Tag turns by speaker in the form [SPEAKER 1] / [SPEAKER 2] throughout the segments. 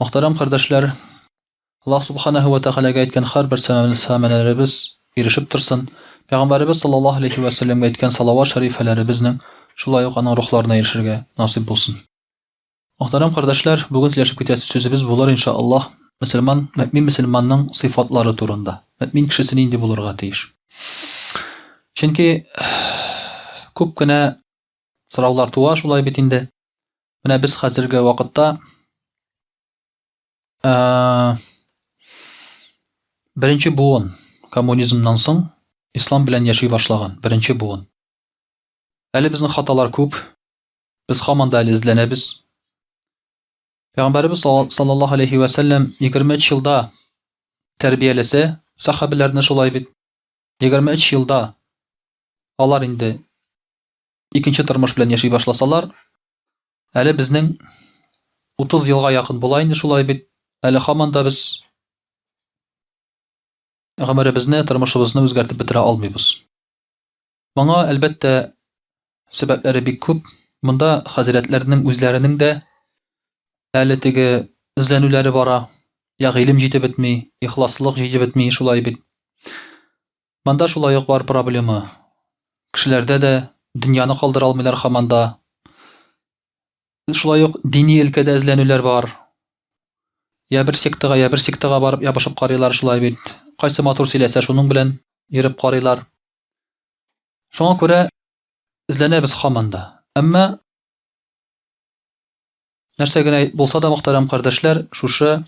[SPEAKER 1] Мөхтәрәм кардәшләр, Аллаһ Субханаһу вә Тәгаләгә әйткән һәрбер сәламләмәләребез бирешеп торсын, Пәйгамбәребез саллаллаһу алейһи вә сәлләмгә әйткән салават шәрифәләребезнең шулай ук аның рухларына ирешергә насыйп булсын. Мөхтәрәм кардәшләр, бүген сөйләшеп китәсе сүзебез булыр, инша Аллаһ, мөселман, мөэмин мөселманның сыйфатлары турында. Мөэмин кешесе нинди булырга тиеш? Чөнки күп кенә сораулар туа шулай бит инде. Менә без хәзерге вакытта ә, беренче буын коммунизмнан соң ислам белән яши башлаган беренче буын. Әле безнең хаталар күп. Без хаман да әле эзләнәбез. Пәйгамбәрбез саллаллаһу алейхи ва саллям 23 елда тәрбиялесе сахабиләрне шулай бит. 23 елда алар инде икенче тормыш белән яши башласалар, әле безнең 30 елга якын була инде шулай бит, әле хаман да без гомеребезне, тормышыбызны үзгәртеп бетерә алмыйбыз. Моңа, әлбәттә, сәбәпләре бик күп. Монда хәзрәтләрнең үзләренең дә әле теге эзләнүләре бара. Я гыйлем җитеп бетми, ихласлык җитеп бетми, шулай бит. Монда шулай ук бар проблема. Кешеләрдә дә дөньяны калдыра алмыйлар хаман да. Шулай ук дини өлкәдә эзләнүләр бар. Я бер сектага, я бер сектага барып ябышып карыйлар шулай бит. Кайсы матур сөйләсә, шуның белән йөреп карыйлар. Шуңа күрә эзләнәбез хаман да. Әмма нәрсә генә булса да, мөхтәрәм кардәшләр, шушы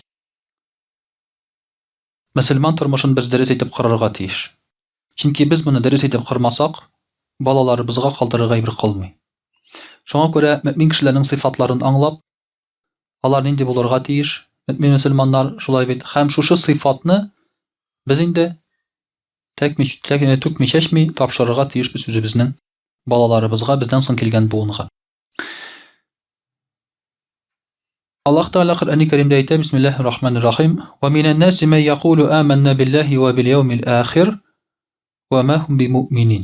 [SPEAKER 1] Мөселман тормышын без дөрес итеп корырга тиеш. Чөнки без моны дөрес итеп кормасак, балаларыбызга калдырырга әйбер калмый. Шуңа күрә мөэмин кешеләрнең сыйфатларын аңлап, алар нинди булырга тиеш, мөэмин мөселманнар шулай бит, һәм шушы сыйфатны без инде тәкми-түкми-чәчми тапшырырга тиешбез үзебезнең балаларыбызга, бездән соң килгән буынга. Аллаһ Тәгалә Коръәни Кәримдә әйтә, Бисмиллаһир Рахманир Рахим, "Ва минән наси ман якулу аманна биллаһи ва бил яумил ахир, ва ма хум бимуъминин".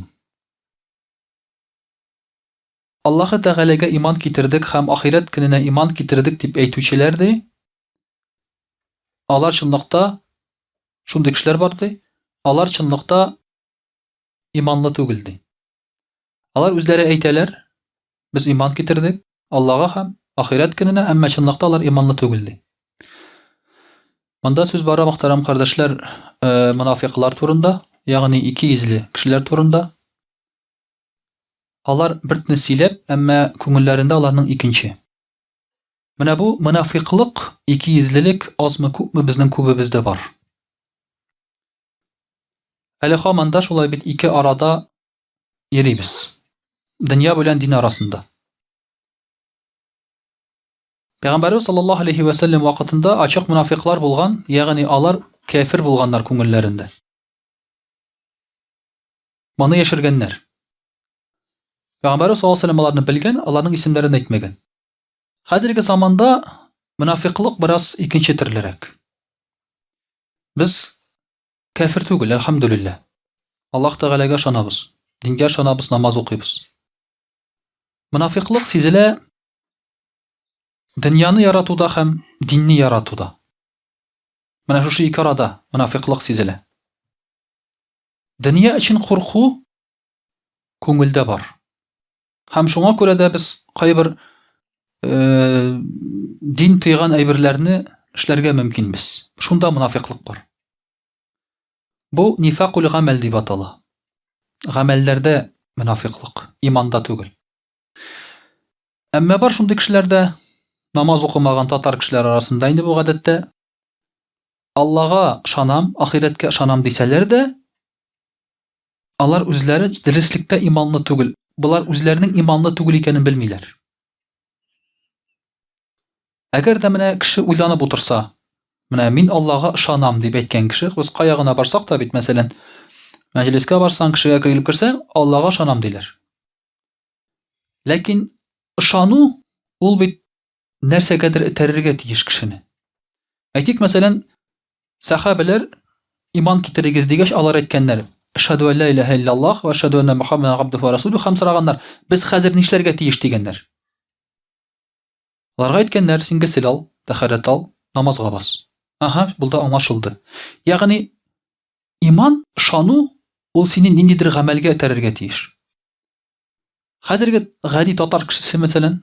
[SPEAKER 1] Аллаһы Тәгаләгә иман китердек һәм ахирәт көненә иман китердек дип әйтүчеләр ди. Алар чынлыкта шундый кешеләр бар ди. Алар чынлыкта иманлы түгел ди. Алар үзләре әйтәләр, без иман китердек Аллага һәм ахирәт көненә, әмма чынлыкта алар иманлы түгел ди. Монда сүз бара мөхтәрәм кардәшләр, э, мунафикълар турында, ягъни ике йөзле кешеләр турында. Алар бертне сөйләп, әмма күңелләрендә аларның икенче. Менә бу мунафикълык, ике йөзлелек азмы күпме безнең күбебездә бар. Әле хаман да шулай бит ике арада йөрибез. Дөнья белән дин арасында. Пәйгамбәрбез саллаллаһу алейхи вә сәлләм вакытында ачык мунафиклар булган, ягъни алар кәфир булганнар күңелләрендә. Моны яшергәннәр. Пәйгамбәрбез саллаллаһу алейхи вә сәлләм аларны белгән, аларның исемнәрен әйтмәгән. Хәзерге заманда мунафиклык бераз икенче төрлерәк. Без кәфер түгел, әлхәмдүлилләһ. Аллаһ Тәгаләгә ышанабыз, дингә ышанабыз, намаз укыйбыз. Монафикълык сизелә дөньяны яратуда һәм динне яратуда. Менә шушы ике арада монафикълык сизелә. Дөнья өчен курку күңелдә бар. Һәм шуңа күрә дә без кайбер э, дин тыйган әйберләрне эшләргә мөмкин без. Шунда мунафиклык бар. Бу нифакул гамәл дип атала. Гамәлләрдә мунафиклык, иманда түгел. Әмма бар шундый кешеләрдә намаз укымаган татар кешеләр арасында инде бу гадәттә Аллага шанам, ахирәткә шанам дисәләр дә, Алар үзләре дөреслектә иманлы түгел. Болар үзләренең иманлы түгел икәнен белмиләр. Әгәр дә менә кеше уйланып утырса, менә мин Аллага ышанам дип әйткән кеше, без кая гына барсак та бит, мәсәлән, мәҗлескә барсаң, кешегә килеп керсәң, Аллага ышанам диләр. Ләкин ышану ул бит нәрсәгәдер этәрергә тиеш кешене. Әйтик, мәсәлән, сәхабәләр иман китерегез дигәч, алар әйткәннәр, Ашһаду ан ла илаһа иллаллаһ ва ашһаду анна Мухаммадан габдуху ва расулюху һәм сораганнар, без хәзер нишләргә тиеш дигәннәр. Аларга әйткәннәр, син гесел ал, тәхәррәт ал, намазга бас. Аһа, булда аңлашылды. Ягъни иман, ышану ул сине ниндидер гамәлгә этәрергә тиеш. Хәзерге гади татар кешесе, мәсәлән,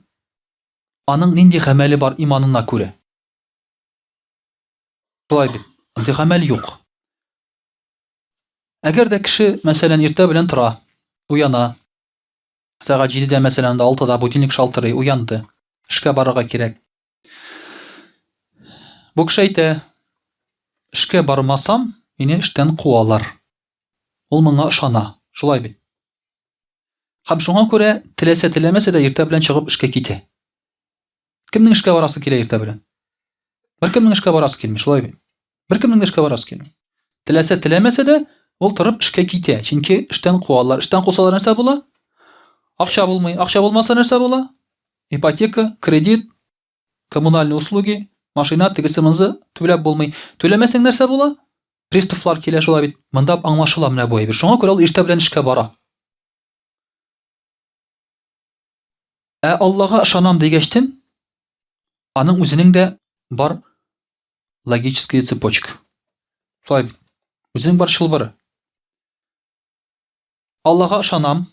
[SPEAKER 1] аның нинди гамәле бар иманына күрә? Шулай бит, андый гамәл юк. Әгәр дә кеше, мәсәлән, иртә белән тора, уяна, сәгать җидедә, мәсәлән, анда алтыда будильник шалтырый, уянды, эшкә барырга кирәк. Бу кеше әйтә, эшкә бармасам, мине эштән куалар. Ул моңа ышана, шулай бит. Һәм шуңа күрә теләсә теләмәсә дә иртә белән чыгып эшкә китә. Кемнең эшкә барасы килә иртә белән? Бер кемнең эшкә барасы килми, шулай бит. беркемнең дә эшкә барасы килми теләсә теләмәсә дә ул торып эшкә китә чөнки эштән куалар эштән кусалар нәрсә була акча булмый акча булмаса нәрсә була ипотека кредит коммунальные услуги машина тегесе мынзы түләп булмый түләмәсәң нәрсә була приставлар килә шулай бит монда аңлашыла менә бу әйбер шуңа күрә ул иртә белән эшкә бара Ә Аллага ышанам дигәчтен, аның үзенең дә бар логическая цепочка. Шулай үзенең бар чылбыры. Аллага ышанам,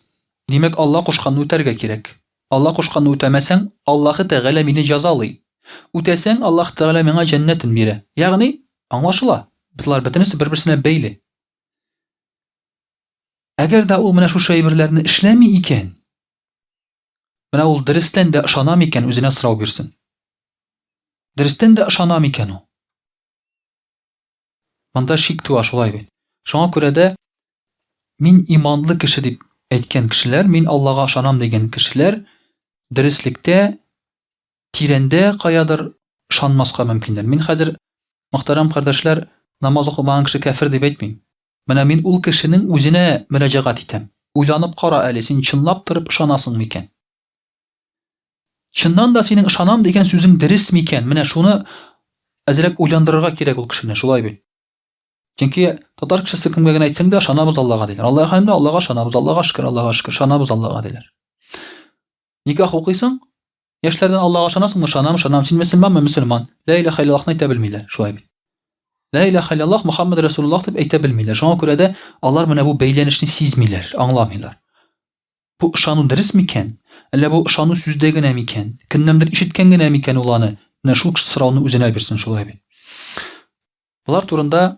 [SPEAKER 1] димәк, Алла кушканны үтәргә кирәк. Алла кушканны үтәмәсәң, Аллаһы Тәгалә мине җәзалый. Үтәсәң, Аллаһ Тәгалә миңа җәннәтен бирә. Ягъни, аңлашыла, болар бөтенесе бер-берсенә бәйле. Әгәр дә ул менә шушы әйберләрне эшләми икән, менә ул дөрестән дә ышанам икән, үзенә сорау бирсен. Дөрестән дә ышанам икән ул. Монда шик туа шулай бит. Шуңа күрә дә мин иманлы кеше дип әйткән кешеләр, мин Аллага ышанам дигән кешеләр дөреслектә тирәндә каядыр ышанмаска мөмкиннәр. Мин хәзер, мөхтәрәм кардәшләр, намаз укымаган кеше кәфер дип әйтмим. Менә мин ул кешенең үзенә мөрәҗәгать итәм. Уйланып кара әле, син чынлап торып ышанасың микән? Чыннан да синең ышанам дигән сүзең дөрес микән? Менә шуны әзрәк уйландырырга кирәк ул кешене, шулай бит? Чөнки татар кешесе кемгә генә әйтсәң дә, ышанабыз Аллага диләр. Алла хәлендә Аллага ышанабыз, Аллага шөкер, Аллага шөкер, ышанабыз Аллага диләр. Никах укыйсың, Яшьләрдән Аллага ышанасыңмы, ышанам, ышанам, син мөселманмы, мөселман. Лә иләһә иллаллаһны әйтә белмиләр, шулай бит. Лә иләһә иллаллаһ Мөхәммәд Рәсулуллаһ дип әйтә белмиләр. Шуңа күрә дә алар менә бу бәйләнешне сизмиләр, аңламыйлар. Бу ышану дөрес микән? Әллә бу ышану сүздә генә микән? Кемнәндер ишеткән генә микән ул аны? Менә шул сорауны үзенә бирсен, шулай бит. Болар турында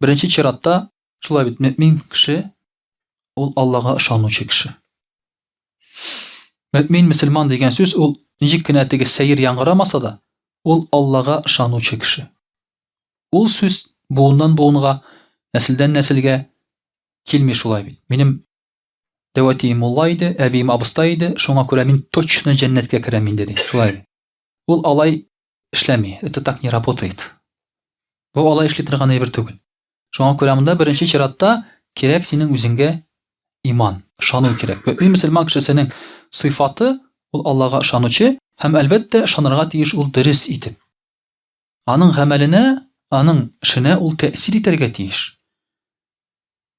[SPEAKER 1] Беренче чиратта, шулай бит, мөмин кеше ул Аллага ышанучы кеше. Мөмин, мөселман дигән сүз ул ничек кенә теге сәер яңгырамаса да, ул Аллага ышанучы кеше. Ул сүз буыннан буынга, нәселдән нәселгә килми шулай бит. Минем дәвәтием мулла иде, әбием абыстай иде, шуңа күрә мин точно җәннәткә керәм инде ди. Шулай. Ул алай эшләми, это так не работает. Бу алай эшли торган әйбер түгел. Шуңа күрә монда беренче чиратта кирәк синең үзеңгә иман, ышану кирәк. Бу мөселман кешесенең сыйфаты ул Аллага ышанучы һәм әлбәттә ышанырга тиеш ул дөрес итеп. Аның гамәленә, аның эшенә ул тәэсир итәргә тиеш.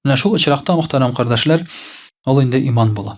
[SPEAKER 1] Менә шул очракта мөхтәрәм кардәшләр, ул инде иман була.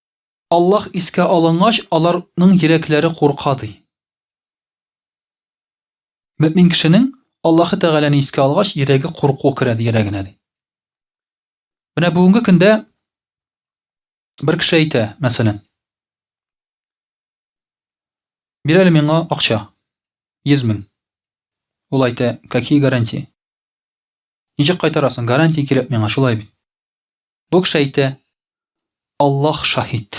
[SPEAKER 1] Аллаһ искә алынгач, алар ның йөрәкләре курка, ди. Мөэмин кешенең Аллаһы Тәгаләне искә алгач, йөрәге курку керә, ди, йөрәгенә, ди. Менә бүгенге көндә бер кеше әйтә, мәсәлән, бир әле миңа акча, йөз мең. Ул әйтә, какие гарантии? Ничек кайтарасың? Гарантия кирәк миңа, шулай бит. Бу кеше әйтә, Аллаһ шаһит.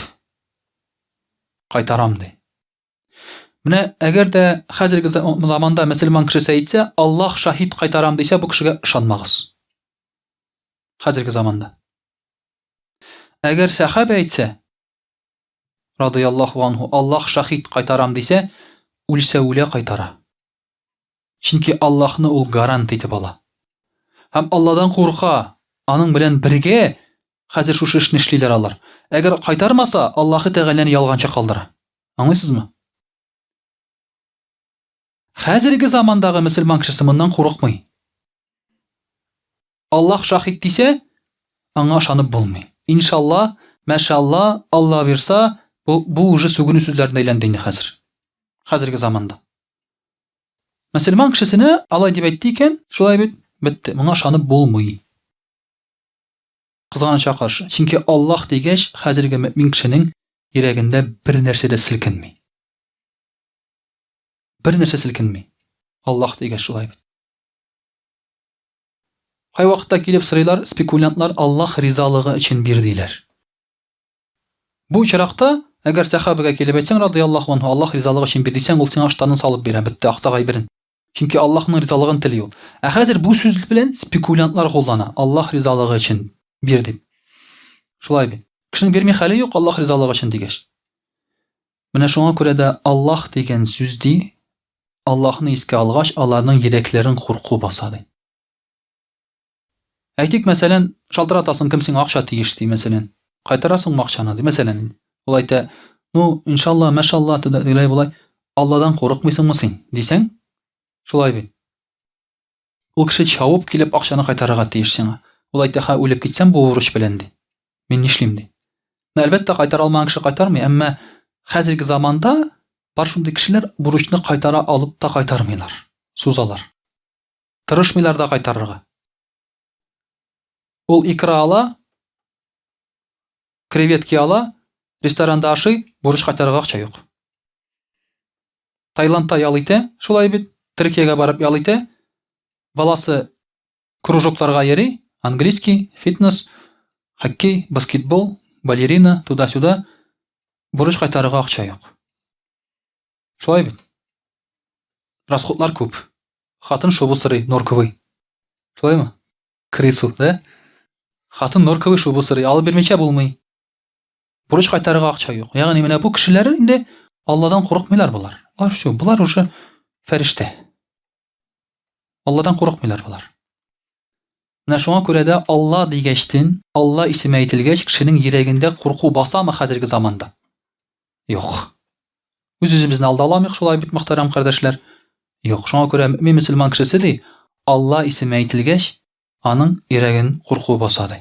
[SPEAKER 1] Кайтарам ди. Менә әгәр дә хәзерге заманда мөселман кешесе әйтсә, Аллаһ шаһит кайтарам дисә, бу кешегә ышанмагыз. Хәзерге заманда. Әгәр сәхабә әйтсә, радыяллаху анху, Аллаһ шаһит кайтарам дисә, үлсә үлә кайтара. Чөнки Аллаһны ул гарант итеп ала. Һәм Алладан курка, аның белән бергә хәзер шушы эшне эшлиләр алар. Әгәр кайтармаса, Аллаһы Тәгаләне ялганчы калдыра. Аңлыйсызмы? Хәзерге замандагы мөселман кешесе моннан курыкмый. Аллаһ шаһит дисә, аңа ышанып булмый. Иншалла, мәшалла, Алла бирса, бу бу уже сүгенү сүзләренә әйләнде инде хәзер. Хәзерге заманда. Мөселман кешесенә алай дип әйтте икән, шулай бит, бетте. Моңа ышанып булмый. Кызганычка каршы, чөнки Аллаһ дигәч, хәзерге мөмин кешенең йөрәгендә бер нәрсә дә селкенми. Бер нәрсә селкенми. Аллаһ дигәч шулай бит. Кай вакытта килеп сырыйлар, спекулянтлар Аллаһ ризалыгы өчен бир диләр. Бу очракта, әгәр сәхабәгә килеп әйтсәң, радыяллаһу анһу, Аллаһ ризалыгы өчен бир, дисәң, ул сиңа ыштанын салып бирә, бетте, акта гайберен. Чөнки Аллаһның ризалыгын тели ул. Ә хәзер бу сүз белән спекулянтлар куллана, Аллаһ ризалыгы өчен бир дип. Шулай бит. Кешенең бирми хәле юк, Аллаһ ризалыгы өчен дигәч. Менә шуңа күрә дә Аллаһ дигән сүз ди, Аллаһны искә алгач, аларның йөрәкләрен курку баса ди. Әйтик, мәсәлән, шалтыратасың, кем сиңа акча тиеш, ди, мәсәлән. Кайтарасыңмы акчаны, ди, мәсәлән. Ул әйтә, ну, иншалла, мәшалла, тегеләй-болай, Алладан курыкмыйсыңмы син, дисәң, шулай бит. Ул кеше чавып килеп акчаны кайтарырга тиеш сиңа. Ул әйтә, ха, үлеп китсәм бу бурыч белән, ди. Мин нишлим, ди. Ну, әлбәттә, кайтара алмаган кеше кайтармый, әмма хәзерге заманда бар шундый кешеләр бурычны кайтара алып та кайтармыйлар, сузалар. Тырышмыйлар да кайтарырга. Ул икра ала, креветки ала, ресторанда ашый, бурыч кайтарырга акча юк. Таиландта ял итә, шулай бит, Төркиягә барып ял итә, баласы кружокларга йөри, английский, фитнес, хоккей, баскетбол, балерина, туда-сюда, бурыч кайтарырга акча юк. Шулай бит. Расходлар күп. Хатын шубу сорый, норковый. Шулаймы? Крысу, да? Хатын норковый шубу сорый, алып бирмичә булмый. Бурыч кайтарырга акча юк. Ягъни менә бу кешеләр инде Алладан курыкмыйлар болар. Алар шул, болар уже фәрештә. Алладан курыкмыйлар болар. Менә шуңа күрә дә Алла дигәчтен, Алла исеме әйтелгәч, кешенең йөрәгендә курку басамы хәзерге заманда? Юк. Үз-үзебезне алда аламыйк шулай бит, мөхтәрәм кардәшләр. Юк, шуңа күрә мөмин мөселман кешесе ди, Алла исеме әйтелгәч, аның йөрәген курку баса ди.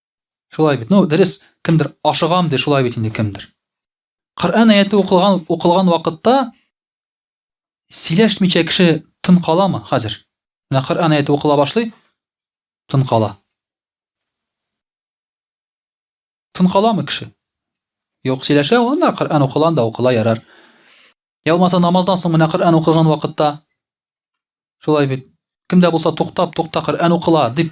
[SPEAKER 1] Шулай бит. Ну, дөрес, кемдер ашыгам ди, шулай бит инде кемдер. Коръән аяты укылган укылган вакытта сөйләшмичә кеше тын каламы хәзер? Менә Коръән аяты укыла башлый, тын кала. Тын каламы кеше? Юк, сөйләшә, анда Коръән укылган да укыла ярар. Я болмаса намаздан соң менә Коръән укыган вакытта шулай бит. Кемдә булса туктап, тукта Коръән укыла дип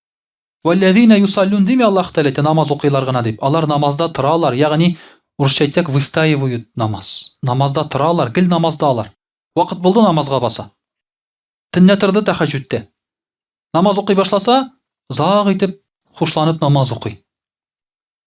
[SPEAKER 1] Вәлләзина юсаллюн дими Аллаһ Тәгалә әйтә, намаз укыйлар гына дип. Алар намазда торалар, ягъни, урысча әйтсәк, выстаивают намаз. Намазда торалар, гел намазда алар. Вакыт булды, намазга баса. Төнлә торды тәхәҗҗүдтә. Намаз укый башласа, озак итеп, хушланып намаз укый.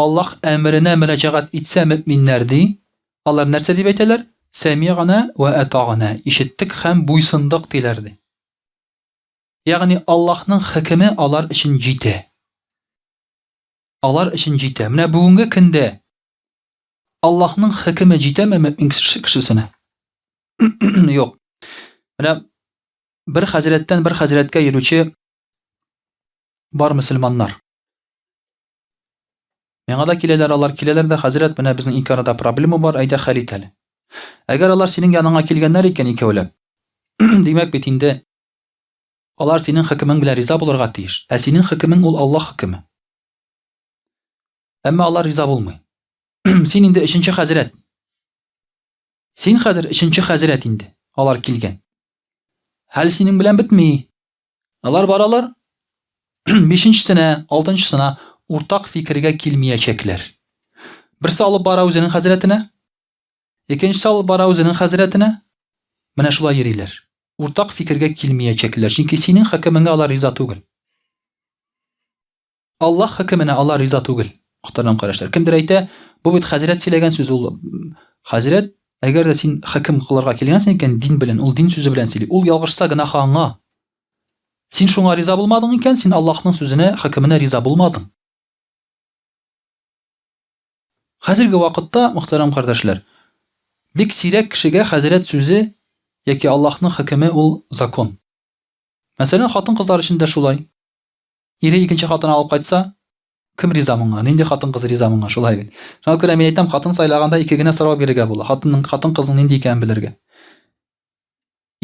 [SPEAKER 1] Аллаһ әмеренә мөрәҗәгать итсә мөэминнәр, ди, алар нәрсә дип әйтәләр? Сәмигънә вә атагънә, ишеттек һәм буйсындык, диләр, ди. Ягъни Аллаһның хөкеме алар өчен җитә. Алар өчен җитә. Менә бүгенге көндә Аллаһның хөкеме җитәме мөэмин кешесенә? Юк. Менә бер хәзрәттән бер хәзрәткә йөрүче бар мөселманнар. Миңа да киләләр, алар киләләр дә, хәзрәт, менә безнең ике арада проблема бар, әйдә хәл ит әле. Әгәр алар синең яныңа килгәннәр икән икәүләп, димәк бит инде алар синең хөкемең белән риза булырга тиеш. Ә синең хөкемең ул Аллаһ хөкеме. Әмма алар риза булмый. Син инде өченче хәзрәт. Син хәзер өченче хәзрәт инде. Алар килгән. Хәл синең белән бетми. Алар баралар, бишенчесенә, алтынчысына уртак фикергә килмиячәкләр. Берсе алып бара үзенең хәзрәтенә, икенчесе алып бара үзенең хәзрәтенә. Менә шулай йөриләр. Уртак фикергә килмиячәкләр, чөнки синең хөкемеңә алар риза түгел. Аллаһ хөкеменә алар риза түгел. Котырган карашлар. Кемдер әйтә, бу бит хәзрәт сөйләгән сүз ул. Хәзрәт, әгәр дә син хөкем кылырга килгәнсең икән дин белән, ул дин сүзе белән сөйли. Ул ялгышса гөнаһы аңа. Син шуңа риза булмадың икән, син Аллаһның сүзенә, хөкеменә риза булмадың. Хәзерге вакытта, мөхтәрәм кардәшләр, бик сирәк кешегә хәзрәт сүзе яки Аллаһның хөкеме ул закон. Мәсәлән, хатын-кызлар өчен дә шулай. Ире икенче хатын алып кайтса, кем риза моңа? Нинди хатын-кыз риза моңа? Шулай бит. Шуңа күрә мин әйтәм, хатын сайлаганда ике генә сорау бирергә була. Хатынның, хатын-кызның нинди икәнен белергә.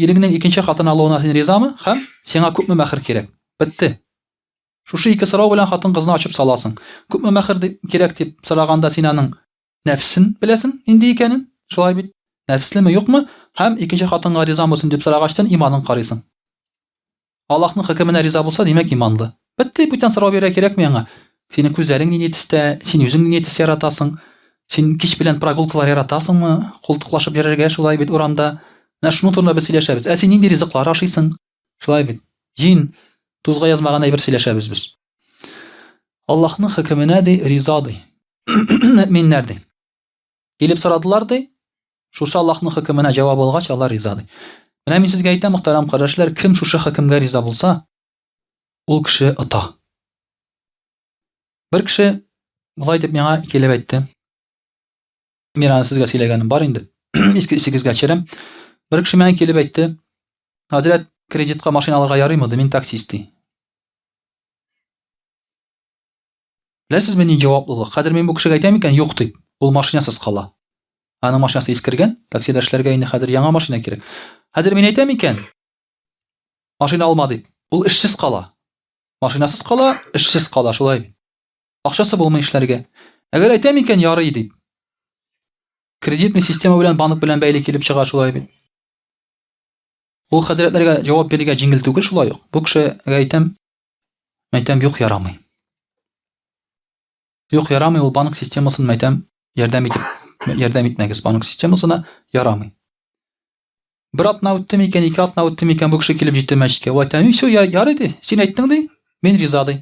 [SPEAKER 1] Иреңнең икенче хатын алуына син ризамы? Һәм сиңа күпме мәхер кирәк? Бетте. Шушы ике сорау белән хатын-кызны ачып саласың. Күпме мәхер кирәк дип сораганда син аның нәфсен беләсең нинди икәнен, шулай бит? Нәфеслеме, юкмы? Һәм икенче хатынга риза булсын дип сорагачтан иманын карыйсың. Аллаһның хөкеменә риза булса, димәк, иманлы. Бетте, бүтән сорау бирә кирәкми аңа. Синең күзләрең нинди төстә, син үзең нинди төс яратасың? Син кич белән прогулкалар яратасыңмы? Култыклашып йөрергә шулай бит урамда. Менә шуның турында без сөйләшәбез. Ә син нинди ризыклар ашыйсың? Шулай бит. Җин тузга язмаган әйбер сөйләшәбез без. Аллаһның хөкеменә ди риза ди. Мөэминнәр ди. Килеп сорадылар ди. Шушы Аллаһның хөкеменә җавап алгач, алар риза ди. Менә мин сезгә әйтәм, мөхтәрәм кардәшләр, кем шушы хөкемгә риза булса, ул кеше ота. Бер кеше болай дип миңа икеләп әйтте. Мин аны сезгә сөйләгәнем бар инде. Иске исегезгә төшерәм. Бер кеше миңа килеп әйтте, Хәзрәт, кредитка машина алырга ярыймы? Мин таксист ди. Беләсезме ни җаваплылык? Хәзер мин бу кешегә әйтәм икән, юк дип, ул машинасыз кала. Аның машинасы искергән, таксидәшләргә инде хәзер яңа машина кирәк. Хәзер мин әйтәм икән, машина алма дип, ул эшсез кала. Машинасыз кала, эшсез кала, шулай бит. Акчасы булмый эшләргә. Әгәр әйтәм икән, ярый дип. Кредитный система белән банк белән бәйле килеп чыга шулай бит. Ул хәзрәтләргә җавап бирергә җиңел түгел шулай ук. Бу кешегә әйтәм, мәйтәм юк ярамый. Юк ярамый ул банк системасын мәйтәм ярдәм итеп ярдәм итмәгез банк системасына ярамый. Бер атна үтте микән, ике атна үтте микән, бу кеше килеп җитте мәчеткә. Вай тәни, все, я, ярый ди. Син әйттең ди, мин риза ди.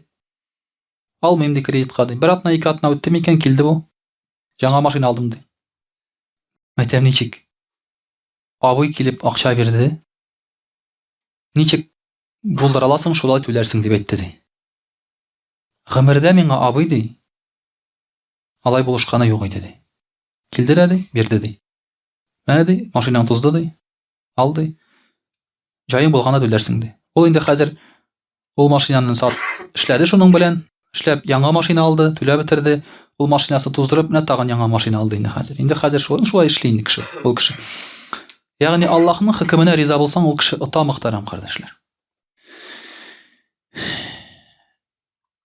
[SPEAKER 1] Алмыйм ди кредитка ди. Бер атна, ике атна үтте микән, килде бу. Жаңа машина алдым ди. Мәтәм ничек? Абый килеп акча бирде. Ничек булдыра аласың, шулай түләрсең дип әйтте ди. Гомердә миңа абый ди. Алай булышканы юк иде ди. Килде дә ди, бирде ди. Менә ди, машинаң тузды ди. Ал ди. Җаең булганда түләрсең ди. Ул инде хәзер ул машинаны сат, эшләде шуның белән, эшләп яңа машина алды, түләп бетерде. Ул машинасын туздырып, менә тагын яңа машина алды инде хәзер. Инде хәзер шулай, шулай эшли инде кеше, ул кеше. Ягъни Аллаһның хөкеменә риза булсаң, ул кеше ота мөхтәрәм кардәшләр.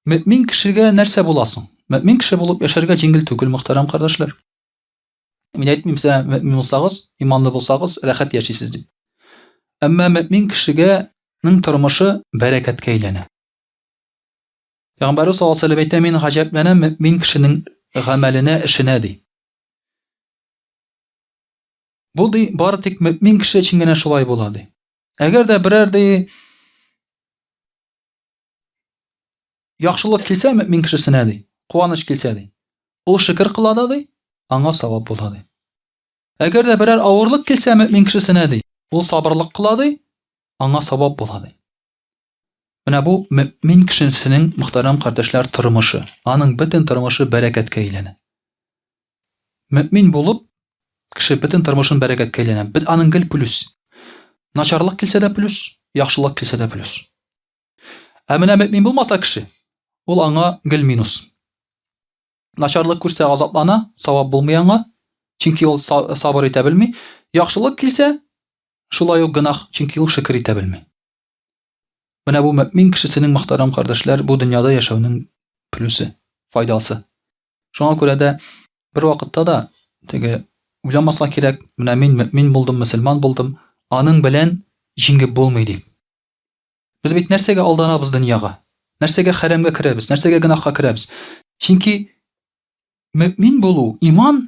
[SPEAKER 1] Мөмин кешегә нәрсә буласың? Мөмин кеше булып яшәргә җиңел түгел, мөхтәрәм кардәшләр. Мин әйтмим сезгә мөмин булсагыз, иманлы булсагыз, рәхәт яшисез дип. Әмма мөмин кешегәнең тормышы бәрәкәткә әйләнә. Пәйгамбәрбез саллаллаһу алейһи әйтә, мин гаҗәпләнәм мөмин кешенең гамәленә, эшенә ди. Бу ди бары тик мөмин кеше өчен генә шулай була ди. Әгәр дә берәр ди Яхшылык килсә мөмин кешесенә ди, куаныч килсә ди. Ул шөкер кыла да ди, аңа савап була ди. Әгәр дә берәр авырлык килсә мөмин кешесенә ди, ул сабырлык кыла ди, аңа савап була ди. Менә бу мөмин кешесенең мөхтәрәм кардәшләр тормышы, аның бөтен тормышы бәрәкәткә әйләнә. Мөмин булып, кеше бөтен тормышын бәрәкәткә әйләнә. Бит аның гел плюс. Начарлык килсә дә плюс, яхшылык килсә дә плюс. Ә менә мөмин булмаса кеше, ул аңа гел минус. Начарлык күрсә азаплана, савап булмый аңа, чөнки ул сабыр итә белми. Яхшылык килсә, шулай ук гынах, чөнки ул шөкер итә белми. Менә бу мөмин кешесенең мөхтәрәм кардәшләр, бу дөньяда яшәүнең плюсы, файдасы. Шуңа күрә дә бер вакытта да теге уйламаска кирәк, менә мин мөмин булдым, мөселман булдым, аның белән җиңеп булмый дип. Без бит нәрсәгә алданабыз дөньяга? Нәрсәгә хәрәмгә керәбез? Нәрсәгә гынахка керәбез? Чөнки мөмин булу, иман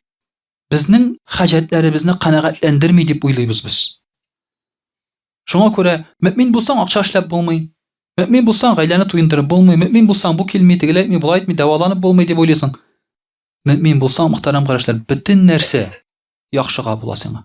[SPEAKER 1] безнең хаҗәтләребезне канәгатьләндерми дип уйлыйбыз без. Шуңа күрә мөмин булсаң акча эшләп булмый, мөмин булсаң гаиләне туендырып булмый, мөмин булсаң бу килми, тегеләй әйтми, болай әйтми, дәваланып булмый дип уйлыйсың. Мөмин булсаң, мөхтәрәм карашлар, бөтен нәрсә яхшыга була сиңа.